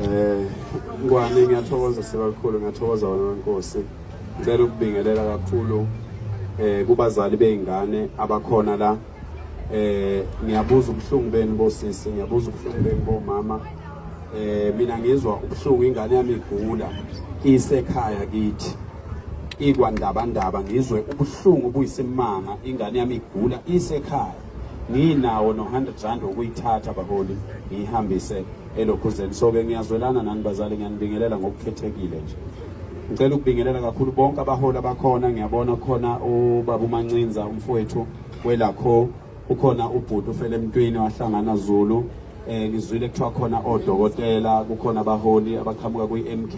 Eh ngwane ngiyathokoza sibakhulu ngiyathokoza wena wenkosi. Ngicela ukubingelela kakhulu eh kubazali beingane abakhona la. Eh ngiyabuza ubuhlungu benu bosisi, ngiyabuza ubuhlungu benu bomama. Eh mina ngizwa ubuhlungu ingane yami igula isekhaya kithi. Ikwandabandaba ngizwe ubuhlungu buyisimanga ingane yami igula isekhaya. nginawo no-100 rand wokuyithatha baholi ngiyihambise elokhuzeni so-ke ngiyazwelana nani bazali ngiyanibingelela ngokukhethekile nje ngicela ukubingelela kakhulu bonke abaholi abakhona ngiyabona kukhona ubaba umancinza umfowethu welakho ukhona ubhuti ufele emntwini wahlangana zulu eh ngizwile kuthiwa khona odokotela kukhona abaholi abaqhamuka kwi-MK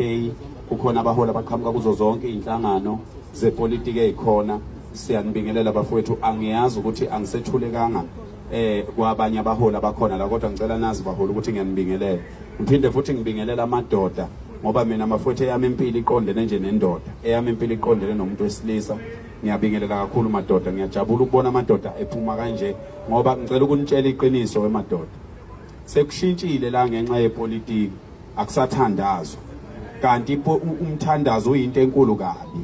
kukhona abaholi abaqhamuka kuzo zonke izinhlangano zepolitiki ezikhona Siyanibingelela bafowethu, angiyazi ukuthi angisethulekanga eh kwabanye abaholi abakhona la kodwa ngicela nazi baholi ukuthi ngiyanibingelela. Ngiphinde futhi ngibingelela amadoda ngoba mina amafwethu eyami impilo iqondene nje nendoda eyami impilo iqondene nomuntu wesilisa ngiyabingelela kakhulu madoda ngiyajabula ukubona amadoda ephuma kanje ngoba ngicela ukunitshela iqiniso wemadoda sekushintshile la ngenxa yepolitiki akusathandazwa kanti umthandazo uyinto enkulu kabi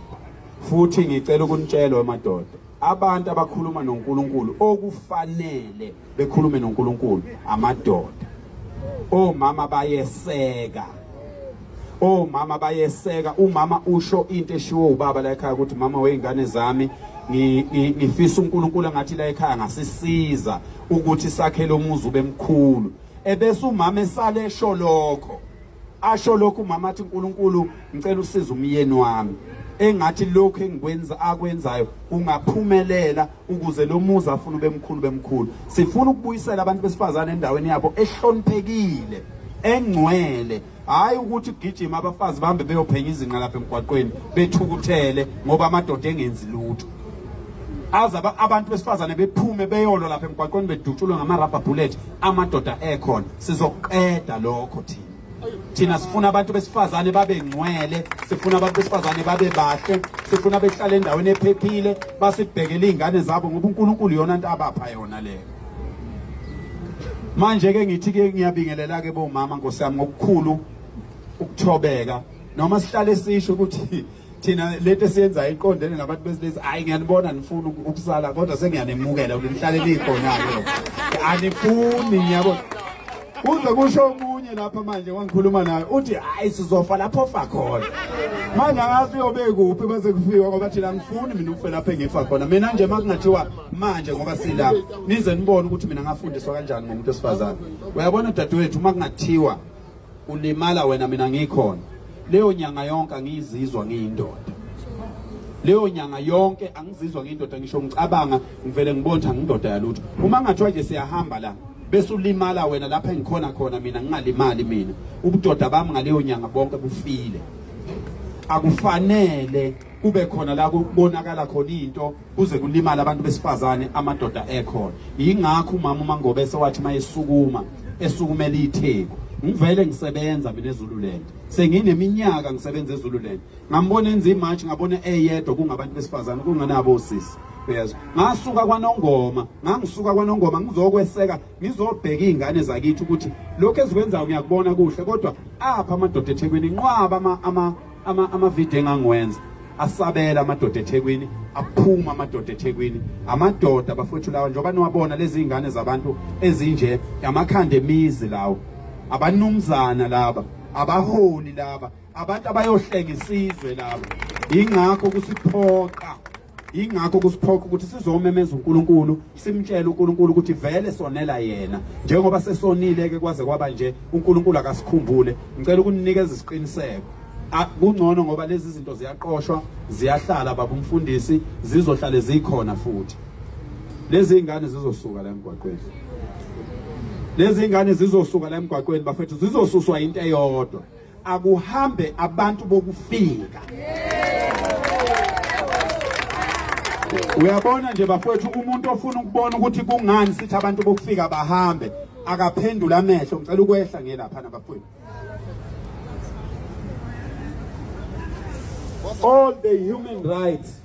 Futhi ngicela ukunitshela wemadoda, abantu abakhuluma noNkulunkulu okufanele bekhulume noNkulunkulu amadoda. Omama bayeseka. Omama bayeseka, umama usho into eshiwo ubaba la ekhaya ukuthi mama weingane zami ngifisa uNkulunkulu ngathi la ekhaya ngasisiza ukuthi sakhele umuzi ube mkhulu. Ebese umama esale esho lokho. asho lokhu umama athi uNkulunkulu ngicela usize umyeni wami engathi lokhu engikwenza akwenzayo kungaphumelela ukuze lo muzi afuna ubemkhulu bemkhulu sifuna ukubuyisela abantu besifazane endaweni yabo ehloniphekile engcwele hayi ukuthi ugijima abafazi bahambe beyophenya izinqa lapha emgwaqweni bethukuthele ngoba amadoda engenzi lutho aze abantu besifazane bephume beyolo lapha emgwaqweni bedutshulwe ngama-rubber bullet amadoda ekhona sizoqeda lokho thina thina sifuna abantu besifazane babe ngcwele sifuna abantu besifazane babe bahle sifuna behlale endaweni ephephile basibhekele iy'ngane zabo ngoba unkulunkulu yona nto abapha yona leyo manje-ke ngithi-ke ngiyabingelela-ke bomama nkosi yami ngokukhulu ukuthobeka noma sihlale sisho ukuthi thina lento esiyenza iqondene nabantu besilisa hayi ngiyanibona nifuna ukusala kodwa sengiyanemukela ukuthi nihlale nikhona-ke anifuni ngiyabona kuze kusho omunye lapha manje wangikhuluma naye uthi hayi sizofa lapho fa khona manje angazi uyobe kuphi bese kufiwa ngoba thina angifuni mina ukufe lapho engifa khona mina nje uma kungathiwa manje ngoba silapha nize nibone ukuthi mina ngafundiswa kanjani ngomuntu wesifazane uyabona dadewethu uma kungathiwa ulimala wena mina ngikhona leyo nyanga yonke angiyizizwa ngiyindoda leyo nyanga yonke angizizwa ngiyindoda ngisho ngicabanga ngivele ngibona ukuthi angindoda yalutho uma ngathiwa nje siyahamba la bese ulimala wena lapha engikhona khona mina ngingalimali mina ubudoda bami ngaleyo nyanga bonke bufile akufanele kube khona la kubonakala khona into kuze kulimale abantu besifazane amadoda ekhona yingakho umama uMangobese wathi mayesukuma esukumela itheku ngivele ngisebenza mina eZululand sengineminyaka ngisebenza eZululand ngambona enza imarch ngabona eyedwa kungabantu besifazane kungenabo osisi uyezwa ngasuka kwanongoma ngangisuka kwanongoma ngizokweseka ngizobheka izingane zakithi ukuthi lokho ezikwenzayo ngiyakubona kuhle kodwa apha amadoda eThekwini inqwaba ama ama amavideo engangiwenza asabela amadoda eThekwini aphuma amadoda eThekwini amadoda bafowethu lawa njengoba niwabona lezi ingane zabantu ezinje amakhanda emizi lawo abanumzana laba abaholi laba abantu abayohlenga isizwe laba ingakho kusiphoqa Ingakho kusiphoqa ukuthi sizomemeza uNkulunkulu, simtshele uNkulunkulu ukuthi vele sonela yena. Njengoba sesonile ke kwaze kwaba nje, uNkulunkulu akasikhumbule. Ngicela ukuninikeza isiqiniseko. Kungcono ngoba lezi zinto ziyaqoshwa, ziyahlala baba umfundisi, zizohlale zikhona futhi. Lezi ingane zizosuka la emgwaqweni. Lezi ingane zizosuka la emgwaqweni bafethu zizosuswa into eyodwa. akuhambe abantu bokufika uyabona nje bafowethu umuntu ofuna ukubona ukuthi kungani sithi abantu bokufika bahambe akaphendula amehlo ngicela ukwehla ngelapha nabafowethu all the human rights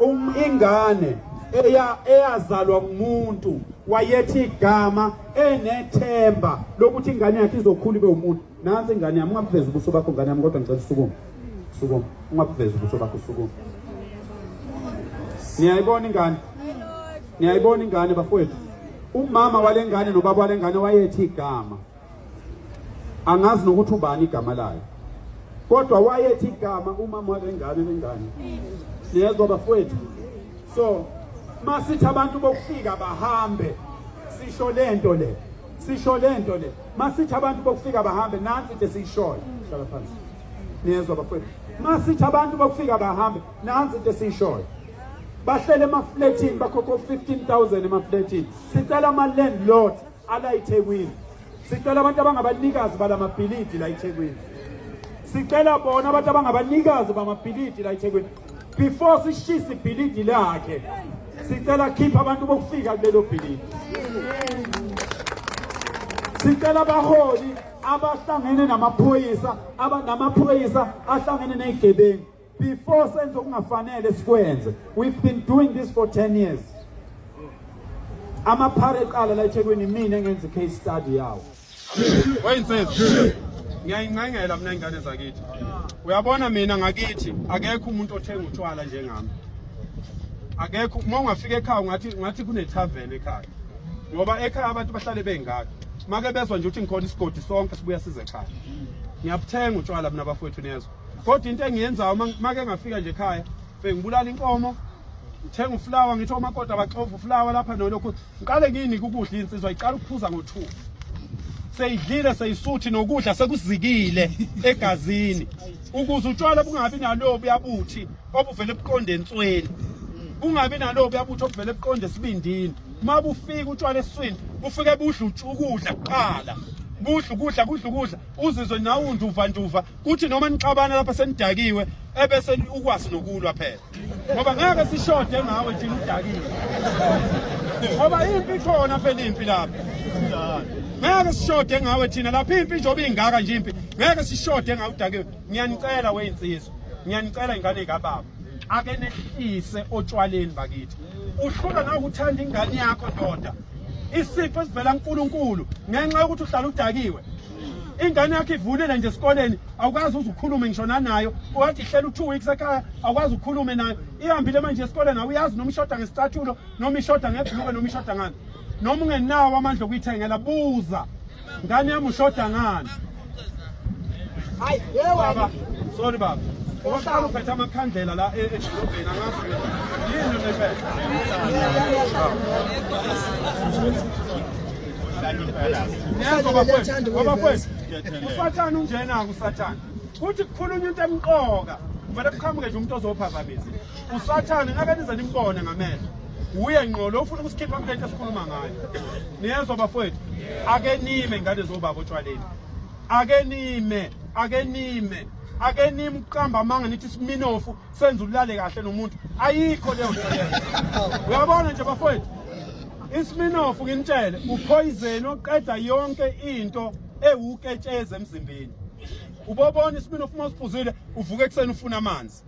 Um ingane eya eyazalwa umuntu wayethi igama enethemba lokuthi ingane yakhe izokhula ibe umuntu nansi ingane yami ungabuveza ubuso bakho ngane yami kodwa ngicela usukume sukume ungabuveza ubuso bakho sukume niyayibona ingane niyayibona ingane bafowethu umama walengane nobaba walengane wayethi igama angazi nokuthi ubani igama layo kodwa wayethi igama umama walengane lengane niyezwa bafowethu so masithi abantu bokufika bahambe sisho lento le sisho lento le masithi abantu bokufika bahambe nansi nje siyishoyo hlala phansi niyezwa bafowethu masithi abantu bokufika bahambe nansi nje siyishoyo bahlele emafletini bakhokho 15000 emafletini sicela ama landlords ala iThekwini sicela abantu abangabanikazi balamabhilidi la iThekwini sicela bona abantu abangabanikazi bamabhilidi la iThekwini before sishise ibhilidi lakhe sicela khipha abantu bokufika kulelo bhilidi sicela abaholi abahlangene namaphoyisa abanamaphoyisa ahlangene nezigebengu before senze okungafanele sikwenze we've been doing this for 10 years amaphara eqala la eThekwini mina ngenza case study yawo wayinsizwa ngiyayingcengela mina ingane zakithi uyabona mina ngakithi akekho umuntu othenga utshwala njengami akekho uma ungafika ekhaya ungathi ungathi kunetavern ekhaya ngoba ekhaya abantu bahlale bengaka make bezwa nje ukuthi ngikhona isigodi sonke sibuya size ekhaya ngiyabuthenga utshwala mina bafowethu niyezwa kodwa into engiyenzayo make ngafika nje ekhaya bengibulala inkomo ngithenga ufulawa ngithi omakoti abaxova ufulawa lapha nolokhu ngiqale nginike ukudla insizwa iqala ukuphuza ngo-two seyidlile seyisuthi nokudla sekuzikile egazini ukuze utshwala bungabi nalobu yabuthi obuvele buqonde ensweni bungabi nalobu yabuthi obuvele buqonde esibindini uma bufika utshwala esiswini bufike budla ukudla kuqala kudla ukudla kudla ukudla uzizwe nawe unduva nduva kuthi noma nixabana lapha senidakiwe ebese ukwazi nokulwa phela ngoba ngeke sishode ngawe thina udakiwe ngoba impi ikhona phela impi lapha ngeke sishode ngawe thina lapha impi njengoba ingaka nje impi ngeke sishode ngawe udakiwe ngiyanicela weyinsizwa ngiyanicela ingane kababa ake nehlise otshwaleni bakithi uhlula nawe uthanda ingane yakho ndoda isipho esivela kuNkulunkulu ngenxa yokuthi uhlala udakiwe ingane yakho ivunile nje esikoleni awukwazi uze ukhulume ngisho nanayo wathi hlela u-two weeks ekhaya awukwazi ukhulume nayo ihambile manje esikoleni awuyazi noma ishoda ngesicathulo noma ishoda ngebhluke noma ishoda ngani noma ungenawo amandla okuyithengela buza ngane yami ushoda ngani baba sorry baba oqala uphethe amakhandlela la e-, edolobheni angazi yini nephethe usathane unjena-ke usathane kuthi kukhulunywa into emqoka kumele kuqhamuke nje umuntu ozophazamisa usathane ngake nize nimbone ngamehlo wuye ngqo lo ufuna ukusikhipha kule nto esikhuluma ngayo niyezwa bafowethu ake nime ngane zobaba otshwaleni ake nime ake nime ake nime ukuqamba amanga nithi siminofu senza ulale kahle nomuntu ayikho leyo nto leyo uyabona nje bafowethu isminofu nginitshele uphoyizeni oqeda yonke into ewuketshezi emzimbeni ubobona isminofu uma usiphuzile uvuka ekuseni ufuna amanzi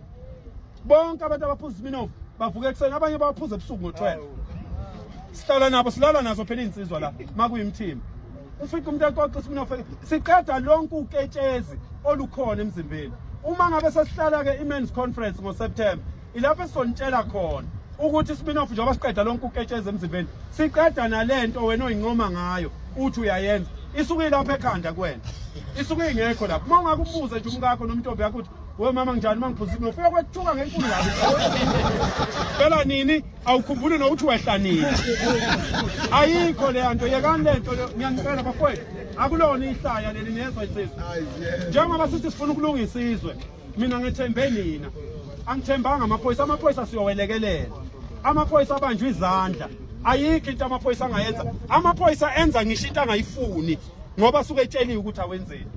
bonke abantu abaphuza isminofu bavuka ekuseni abanye bawaphuza ebusuku ngo-12 sihlala nabo silala nazo phela iy'nsizwa la uma kuyimthimba ufica umuntu exoxa isibinofeni siqeda lonke uketshezi olukhona emzimbeni uma ngabe sesihlala ke imen's conference ngoSeptember ilapho esizonitshela khona ukuthi isibinofu njengoba siqeda lonke uketsheza emzimbeni siqeda nalento wena oyincoma ngayo uthi uyayenza isuke ilapho ekhanda kuwena isuke ingekho lapho uma ungakubuza nje umkakho nomntombi yakho ukuthi we mama nginjani uma ngiphuza isibinofu uyokwethuka ngenkulu kabi phela nini awukhumbuli nokuthi wehlanile ayikho leya nto yekani le nto ngiyanicela bafowethu akulona ihlaya leli nezwa isizwe njengoba sithi sifuna ukulungisa izwe mina ngethembe nina angithembanga amaphoyisa amaphoyisa siyowelekelela amaphoyisa abanjwa izandla ayikho into amaphoyisa angayenza amaphoyisa enza ngisho into angayifuni ngoba suke etsheliwe ukuthi awenzeni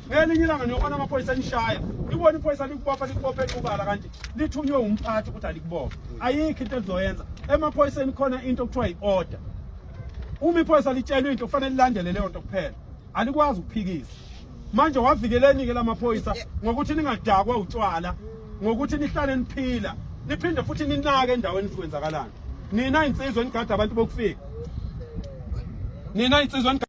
ngelinye ilanga niyobona amaphoyisa enishaya ibona iphoyisa likubopha likubophe equbala kanti lithunywe umphathi ukuthi alikubophe ayikho into elizoyenza emaphoyiseni khona into okuthiwa yi-order uma iphoyisa litshelwe into kufanele lilandele leyo nto kuphela alikwazi ukuphikisa manje wavikeleni-ke la maphoyisa ngokuthi ningadakwa utshwala ngokuthi nihlale niphila niphinde futhi ninake endaweni kwenzakalani nina insizwa enigada abantu bokufika nina insizwa